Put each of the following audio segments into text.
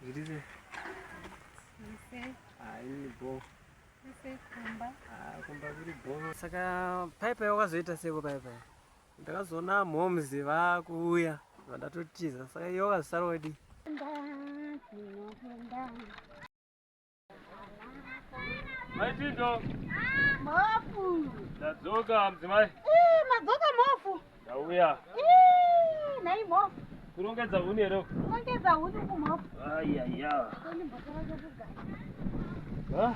Zvirizve. Ah, ini bo. Kumba. Ah, kumba kuri bo. Saka paipai wakazoita seko paipai? Ndakazoona moms vakuuya vandatotiza saka iyo vakazosara wadi. Mai Tindo. Mofu. Ndadzoka mudzimai. Eh, madzoka mofu. Ndauya. Eh, nai mofu. Kurongedza huni here? Kurongedza huni kumofu. Ayaya. Koni mbotara zvekugara. Ah.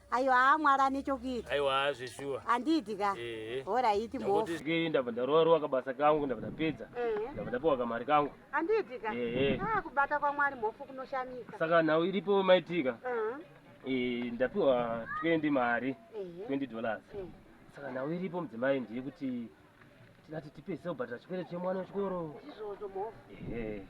ayo haa mwari ane chokuita aiwa zveshuwa handiiti ka horaiti mhofuke ndabva ndarova rova kabasa kangu ndabva ndapedza ndabva ndapiwa kamari kangu handiiti ka ah, kubata kwamwari mhofu kunoshamisa saka nhau iripo maitika ndapiwa 20 mari 20 dollars saka nhau iripo mudzimai ndeyekuti tingati tipe zita kubhadhara chikwereti chemwana wechikoro ndizvozvo mhofu ehe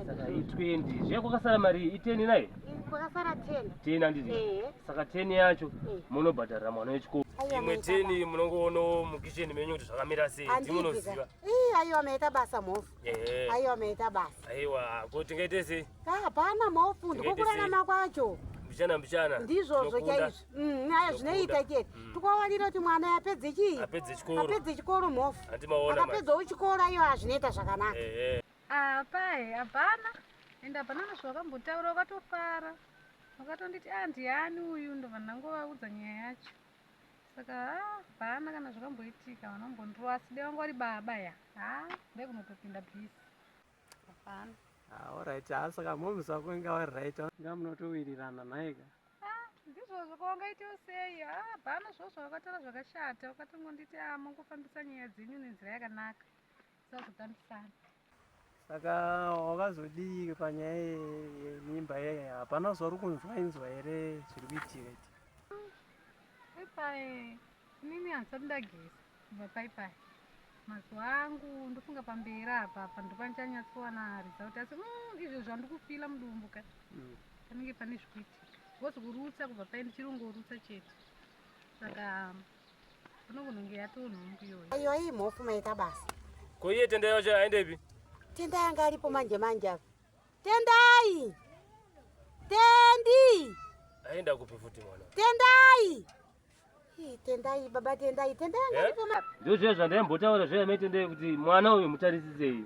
saka i 20 zviya kwakasara mari iyi i 10 nayo kwakasara 10 10 handiti Ehe. saka 10 yacho Eh. munobhadharira mwana wechikoro Aiwa, imwe maita 10 munongoonawo mukicheni menyu kuti zvakamira sei basa. Handiti ka? timunoziva Ii, aiwa maita basa mhofu Eh. Aiwa ameita basa. Aiwa, ko tingaite sei? Ah, hapana maofunda kokurarama kwacho. Mbichana mbichana. Ndizvozvo chaizvo. Mm, aya zvinoita chete. Mm. Tikawanira kuti mwana apedze chii? Apedze chikoro. Apedze chikoro mofu. Andimaona. Akapedzawo chikoro iyo azvinoita zvakanaka. Eh. eh. Ah, pai, hapana. Enda hapana nezvawakambotaura wakatofara. Wakatonditi ah ndiyani uyu ndovanangovaudza nyaya yacho. saka ah, hapana kana zvakamboitika vanombondirova asi dai vanga vari baba ya ha ah, dai kunotopinda bisi hapana aorit ah, ha saka moms vako inga vari right nga munotowirirana nhaika ndizvozvo kwawangaitiwo sei ha hapana zvozvo wakataura zvakashata wakatongonditi amongofambisa nyaya dzenyu nenzira yakanaka saka wakazodii panyaya yemimba yeye hapana zvauri kunzwa inzwa here zviri kuitika iti paipai inini handisati ndageza kubva paipai mazuva angu ndofunga pamberi apa apa ndopandichanyatswana result asi mm, izvo zvandikufila mudumbu ka mm. panenge pane zvikuitika bcause kurutsa kubva pai ndichirongorutsa chete saka Kunokunenge yatoo nhumbu iyoyo. Iyo iyi mhofu maita basa. Ko iye tendai wacho aendepi? Tendai anga aripo manje manje apa. Tendai! Tendi! Aenda kupi futi mwana? Tendai! Tendai baba tendai tendai anga eh? aripo manje. Ndozviya zvandaimbotawara zviya maitendai kuti mwana uyu mutarisisei.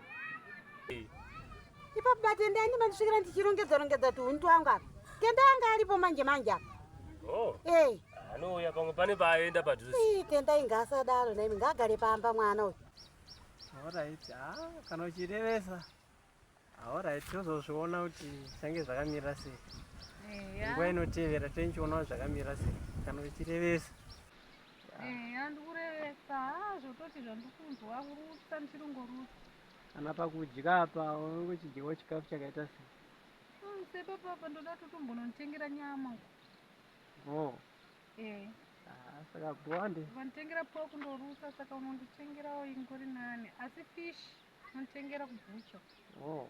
Ipapo batendai ndimandisvikira ndichirongedza rongedza tuhuni twangu apa. Tenda anga aripo manje manje apa. Oh. Eh. Anouya pamwe pane paaenda padhuze. Eh, tenda inga asadaro naimi ngagare pamba mwana uyu. Alright. Ah, kana uchirevesa. Alright, tozozviona kuti zvange zvakamira sei. Eh. Nguva inotevera tenchionawo zvakamira sei. Kana uchirevesa. Eh, andikurevesa. Ah, zvototi zvandikunzwa kurutsa ndichirongorutsa. Kana pakudya apa unenge uchidyawo chikafu chakaita sei? Mm, sepapa apa ndoda totombononditengera nyama uko. Oh. Eh. Ah, saka bonde. Vanditengera pork ndorusa saka unonditengerawo ingori nani. Asi fish unonditengera kubhucha. Oh.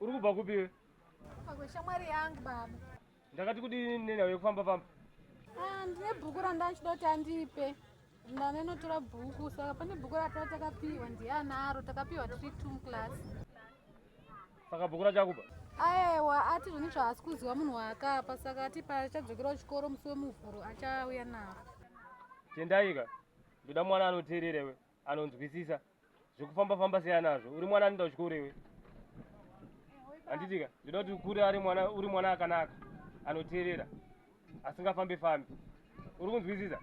Uri kubva kupi iwe? Kubva kweshamwari yangu baba. Ndakati kudini nenawe yekufamba famba? Ah, ndine bhuku randachida kuti andipe. Ndanenotora bhuku saka pane bhuku ratava takapiwa ndiye anaro takapiwa tiri two muclass. Saka bhuku racho akuba? Aewa ati zvine zvaasi kuziwa munhu waakapa saka ati paachadzokera kuchikoro musi wemuvhuro achauya naro. Tendaika ndoda mwana anoteerera iwe. anonzwisisa zvekufamba famba siya nazvo uri mwana anoenda kuchikoro iwe handitika ndoda kuti ukure ari mwana uri mwana akanaka anoteerera asingafambe fambi uri kunzwisisa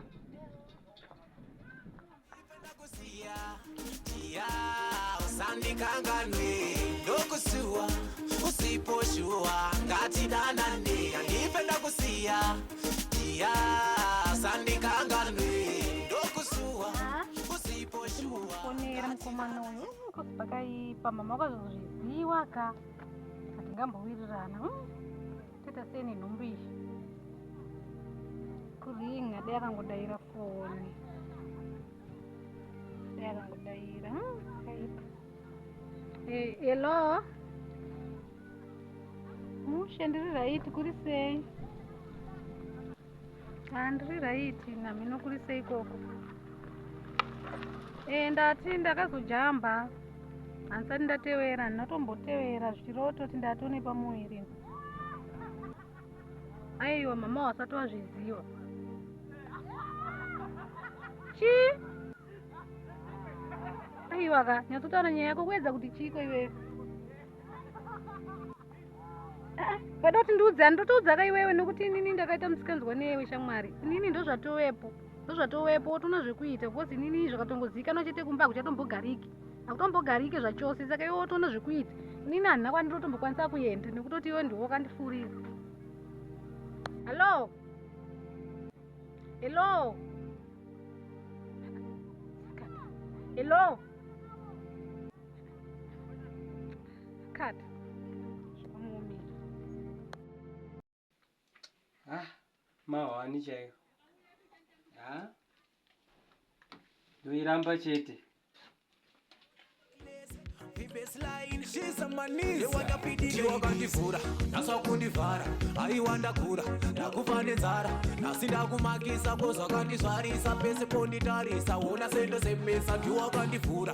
usandikanganwe ndokusuwa usipo shuwa ngatidanane andipe ndakusiya fonera mukomana uyu kosi pakaipa mama wakazozviziwa ka hatingambowirirana toita sei nenhumbu iyi kuring ade akangodaira foni ade akangodaira kaipa hello mushe ndiri raiti kuri sei handiri ah, raiti namhino kuri sei koko e eh, ndati ndakazojamba handisati ndatevera ndinotombotevera zvichirototi ndatone pamuviri aiwa mama wasati wazviziva chii aiwa ka nyatsotaura nyaya yako kuedza kuti chiiko iweyo pada kuti ndiudzani ndotoudza ka iwewe nekuti inini ndakaita musikanzwa neyewe shamwari inini ndozvatovepo ndozvatovepo wotoona zvekuita bcause inini zvakatongozivikanwa chete kumba hakuchatombogariki hakutombogariki zvachose saka iwe wotoona zvekuita inini handina kwandirotombokwanisa kuenda nekutoti iwe ndiwo kandifurira hallo hello hello Cut. Zvakamuomera. Ah, mahwani chaiyo. Ah. Ndoiramba chete. wakandivhura nhasi wakundivhara aiwa ndakura ndakufa nenzara nhasi ndakumakisa kozvakandizvarisa pese ponditarisa wona sendo semesa ndiwakandivhura